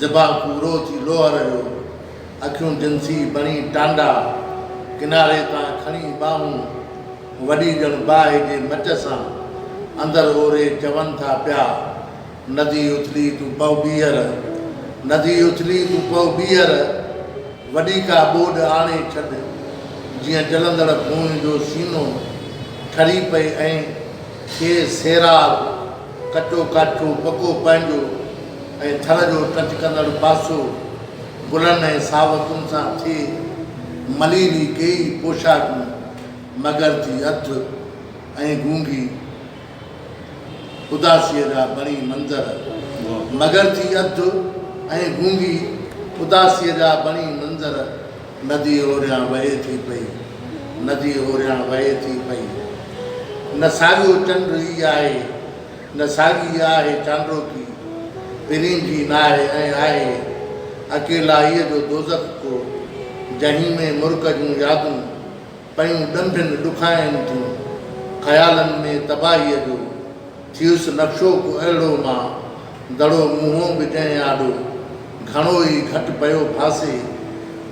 زبان ڪورو ٿي لوهر جو، اکيون جنسي بڻي ٽانڊا، ڪناري تان کڻي ٻانهون، وڏي ڄڻ باهه جي مچ سان، اندر اوري چون ٿا پيا، ندي اٿلي تون پئو ٻيهر، ندي اٿلي تون پئو ٻيهر، وڏي ڪا ٻوڏ آڻي ڇڏ، جيئن جلندڙ کونهن جو سينو ٺري پئي ۽ کي سيراب، ڪچو ڪاٺيون، پڪو پنهنجو ۽ ٿر جو ٽچ ڪندڙ پاسو، گلن ۽ ساوتن سان ٿئي مليري ڪيئي پوشاڪون، مگر ٿي اڌ ۽ گونگي اداسيء جا بڻي منظر، مگر ٿي اڌ ۽ گونگي اداسيء جا بڻي منظر. ندي هوريان وهي ٿي پئي. ندي هوريان وهي ٿي پئي. نه ساڳيو چنڊ ئي آهي. نه ساڳي آهي چانڊوڪي. پرين جي ناهي ۽ آهي اڪيلائيء جو دوزخ ڪو. جهين ۾ مرڪ جون يادون. پيون ڏنڀين ڏکائين ٿيون، خيالن ۾ تباهيء جو، ٿيس نقشو ڪو اهڙو مان، دڙو منهون به ڪنهن آڏو، گهڻو ئي گهٽ پيو ڦاسي،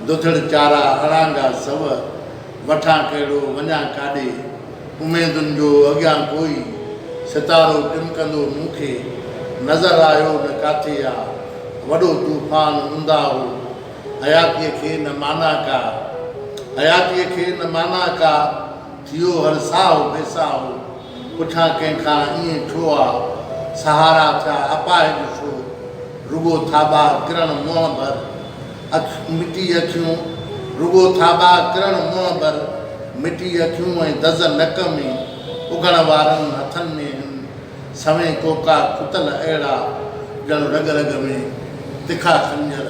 دڌڙ چارا اڙانگا سو، وٺان ڪهڙو وڃان ڪاڏي، اميدن جو اڳيان ڪوئي، ستارو ٽمڪندو مون کي، نظر آيو نه ڪاٿي آ، وڏو طوفان اوندا هو. حياتيء کي نه معنيٰ ڪا حياتيء کي نه معنيٰ ڪا ٿيو هر ساهو بي ساهو پڇان ڪنهن کان ائين ڇو آ سهارا ٿيا اپاهج ڇو رڳو ٿاٻا ڪرڻ منهن ڀر اک مٽي اکيون رڳو ٿاٻا ڪرڻ منهن ڀر مٽي اکيون ۽ دز نڪ ۾ اگهڻ وارن هٿن ۾ هن سوين ڪوڪا ڪتل اهڙا، ڄڻ رڳ رڳ ۾ تکا خنجر،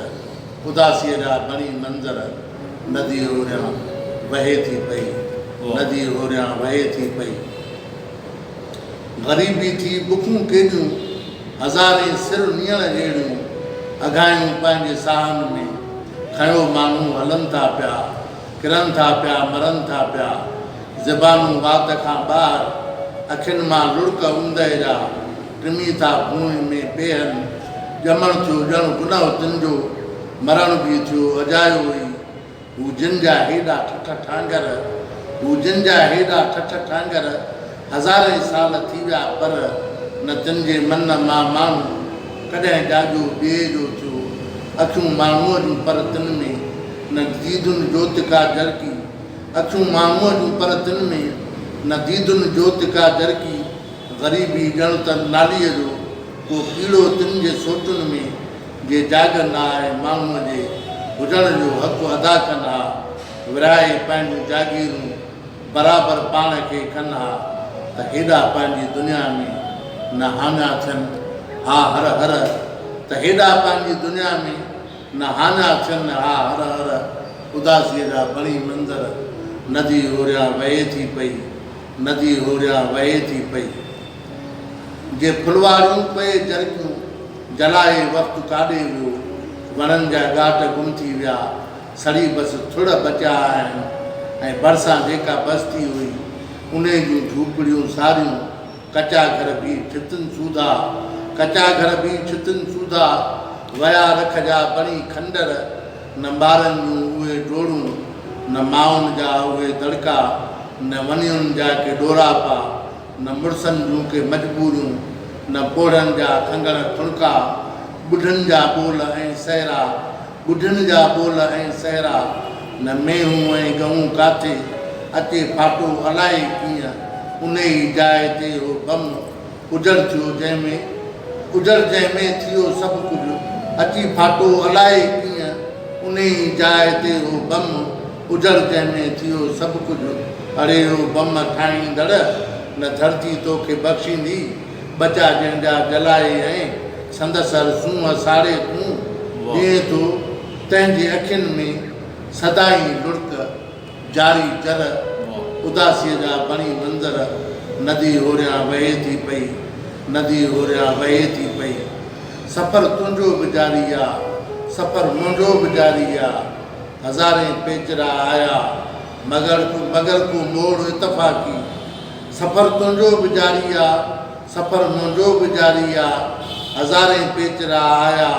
اداسيء جا بڻي منظر، نديء هوريان وهي ٿي پئي، نديء هوريان وهي ٿي پئي. غريبي ٿي بکون ڪيڏيون، هزارين سر نيڻ جهڙيون، اگهايون پنهنجي ساهن ۾، کنيو ماڻهو هلن ٿا پيا. ڪرن ٿا پيا، مرن ٿا پيا. زبانون وات کان ٻاهر، اکين مان لڙڪ اوندهه جا، ٽمي ٿا ڀونء ۾ پيهن. ڄمڻ ٿيو ڄڻ گنهه تن جو، مرڻ به ٿيو اجايو ئي. هو جن جا هيڏا ٺٺ ٺانگر، هو جن جا هيڏا ٺٺ ٺانگر. هزارين سال ٿي ويا پر نه تن جي من مان ماڻهو ڪڏهن ڏاجو ٻئي جو ٿيو اکيون ماڻهوء جون پر تن ۾ نه ديدن جوت ڪا جرڪي اکيون ماڻهوء جون پر تن ۾ نه ديدن جوت ڪا جرڪي غريبي ڄڻ ته ناليء جو ڪو ڪيڙو تن جي سوچن ۾ جي جاڳن آء ماڻهوء جي هجڻ جو حق ادا ڪن ها ورهائي پنهنجون جاگيرون برابر پاڻ کي ڪن ها ته هيڏا پنهنجي دنيا ۾ نه هاڃا ٿين ها هر هر ته هيڏا پنهنجي دنيا ۾ نه هاڃا ٿين ها هر هر اداسيء جا بڻي منظر ندي هوريان وهي ٿي پئي ندي هوريان وهي ٿي پئي جي ڦلواريون پئي جرڪيون جلائي وقت ڪاڏي ويو وڻن جا ڳاٽ گم ٿي ويا سڙي بس ٿڙ بچيا آهن ۽ ڀرسان جيڪا بستي هئي، انهي جون جهوپڙيون ساريون ڪچا گهر به ڇتن سوڌا، ڪچا گهر به ڇتن سوڌا، ويا رک جا بڻي کنڊر، نه ٻارن جون اهي ڊوڙون، نه مائن جا اهي دڙڪا، نه ونيون جا ڪي ڏوراپا، نه مڙسن جون ڪي مجبوريون، نه پوڙهن جا کنگڻ ٺڻڪا، ٻڍن جا ٻول ۽ سهرا، ٻڍن جا ٻول ۽ سهرا، نه مينهون ۽ ڳئون ڪاٿي، اچي ڦاٽو الائي ڪيئن، انهيء جاء تي اهو بم اجڙ ٿيو جنهن ۾ اجڙ جنهن ۾ ٿيو سڀ ڪجهه، اچي ڦاٽو الائي ڪيئن، انهيء جاء تي اهو بم اجڙ جنهن ۾ ٿيو سڀ ڪجهه، اڙي او بم ٺاهيندڙ، نه ڌرتي توکي بخشيندي، ٻچا جنهن جا جلائي ۽ سندس هر سونهن ساڙي تون ڏيئين ٿو، تنهن جي اکين ۾ سدائين لڙڪ، جاري جر، اداسيء جا بڻي منظر، ندي هوريان وهي ٿي پئي، ندي هوريان وهي ٿي پئي، سفر تنهنجو به جاري آ، سفر منهنجو به جاري آ، هزارين پيچرا آيا، مگر ڪو موڙ اتفاقي، سفر تنهنجو به جاري آ، سفر منهنجو به جاري آ، هزارين پيچ را آيا،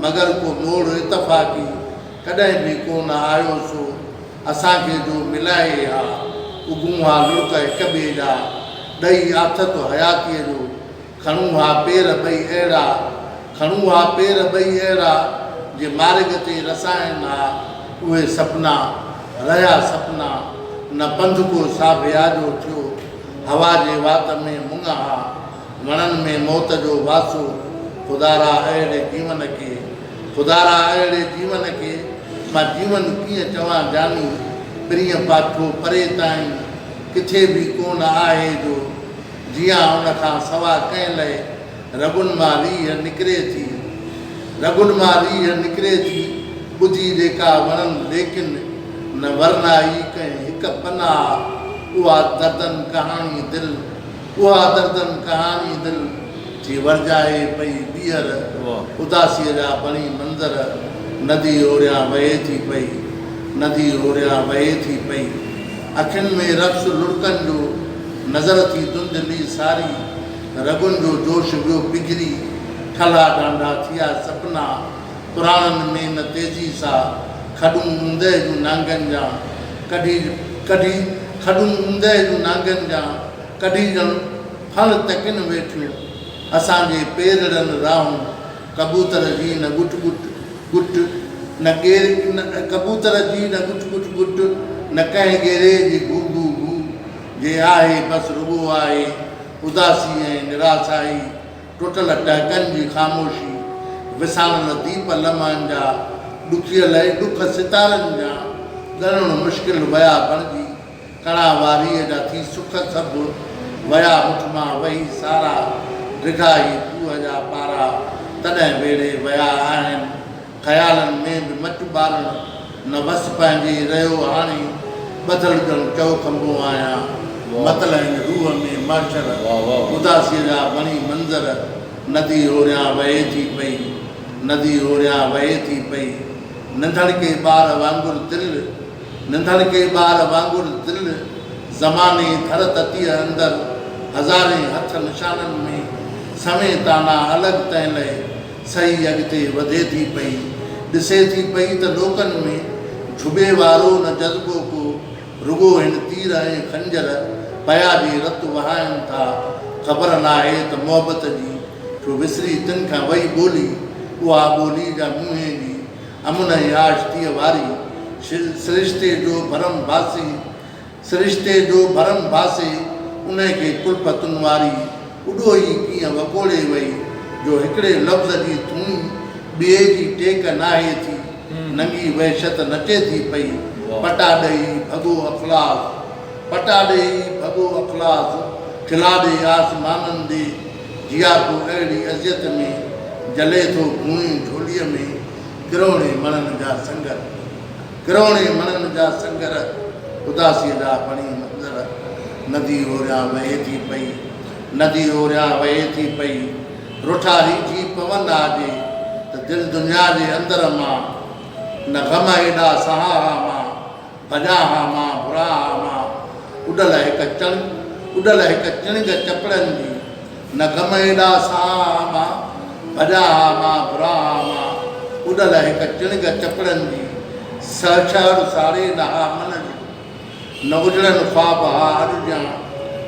مگر ڪو موڙ اتفاقي ڪڏهن به ڪو نه آيو سو اسان کي جو ملائي ها، اگهون ها لڙڪ هڪ ٻئي ڏانهن ڏئي آٿت حياتيء جو، کڻون ها پير ٻئي اهڙا، کڻون ها پير ٻئي اهڙا، جي مارڳ تي رسائن ها اهي سپنا، رهيا سپنا، نه پنڌ ڪو ساڀيا جو ٿيو، هوا جي وات ۾ مڱ ها، وڻن ۾ موت جو واسو، خدارا اهڙي جيون کي، خدارا اهڙي جيون کي، مان جيون ڪيئن چوان جاني، پرينء پاٺو پري تائين، ڪٿي به ڪونه آهي جو، جيان ان کان سوا ڪنهن لئه، رڳن مان ريهه نڪري ٿي. رڳن مان ريهه نڪري ٿي، ٻجهي جيڪا وڻن ليڪن نه ورنائي ڪنهن هڪ پناهه، اها دردن ڪهاڻي دل، اها دردن ڪهاڻي دل، ٿي ورجائي پئي ٻيهر، اداسيء جا بڻي منظر، ندي هوريان وهي ٿي پئي، ندي هوريان وهي ٿي پئي. اکين ۾ رقص لڙڪن جو، نظر ٿي ڌنڌلي ساري، رڳن جو جوش ويو پگهري، ٺلها ڍانڍا ٿيا سپنا، پراڻن ۾ نه تيزي سا، کڏون اوندهه جون نانگن جان، ڪڍي ڪڍي کڏون اوندهه جون نانگن جان، ڪڍي ڄڻ ڦڻ تڪين ويٺيون، اسان جي پيرڙن راهون، ڪبوتر جي نه ڳٽ ڳٽ ڳٽ، نه ڪير ڪبوتر جي نه ڳٽ ڳٽ ڳٽ، نه ڪنهن ڳيري جي گو گو گو، جي آهي بس رڳو آهي اداسي ۽ نراسائي، ٽٽل ٽهڪن جي خاموشي، وساميل ديپ لمحن جا، ڏکيل ۽ ڏک ستارن جا، ڳڻڻ مشڪل ويا بڻجي. ڪڙا واريء جا ٿي سک سڀ، ويا هٺ مان وهي سارا، ڊگها هي کوهه جا پارا، تڏهن ويڙهي ويا آهن، خيالن ۾ به مچ ٻارڻ، نه وس پنهنجي رهيو هاڻي، ٻڌل ڄڻ چؤ کنڀو آهيان، متل هن روح ۾ محشر، اداسيء جا وڻي منظر، ندي هوريان وهي ٿي پئي، ندي هوريان وهي ٿي پئي، ننڍڻڪي ٻار وانگر دل، ننڌڻڪي ٻار وانگر دل زماني ڌر تتيء اندر هزارين هٿ نشانن ۾ سوين تانا الڳ تنهن لئه سهي اڳتي وڌي ٿي پئي ڏسي ٿي پئي ته لوڪن ۾ جهٻي وارو نه جذبو ڪو رڳو هن تير ۽ خنجر پيا جي رت وهائن ٿا خبر ناهي ته محبت جي ڇو وسري تن کان وئي ٻولي اها ٻولي جا منهين جي امن ۽ آشتيء واري سرشتي جو ڀرم ڀاسي، سرشتي جو ڀرم ڀاسي، انهي کي ڪلفتن واري اڏوهي ڪيئن وڪوڙي وئي، جو هڪڙي لفظ جي ٿونئي ٻئي جي ٽيڪ ناهي ٿي، ننگي وحشت نچي ٿي پئي، پٽا ڏئي ڀڳو اخلاص، پٽا ڏئي ڀڳو اخلاص، کلاڏي آسمانن ڏي. جيا تون اهڙي اذيت ۾ جلي ٿو گهوڻي جهوليء ۾ ڪروڙين مڻن جا سنگر ڪروڙين مڻن جا سنگر اداسيء جا بڻي منظر ندي اوريان وهي ٿي پئي ندي اوريان وهي ٿي پئي رٺاري ٿي پون آ جي ته دل دنيا جي اندر مان نه غم ايڏا سهان ها مان ڀڄان ها مان، ڀران ها مان، اڏل هڪ چڻ، اڏل هڪ چڻگ چپڙن جي، نه غم ايڏا سهان ها مان، ڀڄان ها مان، ڀران ها مان، اڏل هڪ چڻگ چپڙن جي، سهه شهر ساڙي نه ها من جو، نه اجڙن خواب ها اڄ جيان،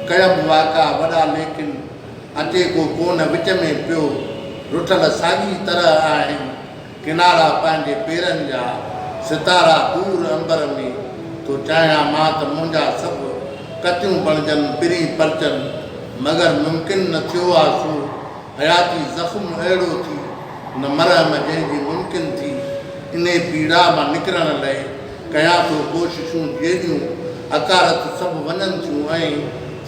ڪيم واڪا وڏا ليڪن، اچي ڪو ڪونه وچ ۾ پيو، رٺل ساڳي طرح آهن، ڪنارا پنهنجي پيرن جا، ستارا دور عنبر ۾، ٿو چاهيان مان ته منهنجا سڀ ڪتيون بڻجن پرين پرچن، مگر ممڪن نه ٿيو آ سو، حياتي زخم اهڙو ٿي، نه مرهم جنهن جي ممڪن ٿي، انهي پيڙا مان نڪرڻ لئه، ڪيان ٿو ڪوششون جيڏيون حقارت سڀ وڃن ٿيون ۽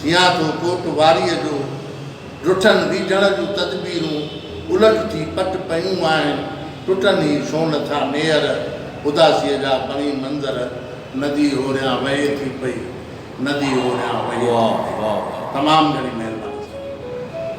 ٿيان ٿو ڪوٽ واريء جو، ڊٺن ڊيڄڻ جون تدبيرون الٽ ٿي پٽ پيون آهن، ٽٽن هي ڇو نه ٿا ميئر، اداسيء جا پڻي منظر، ندي هوريان وهي ٿي پئي، ندي هوريان وهي ٿي پئي. تمام گهڻي مهرباني سائين.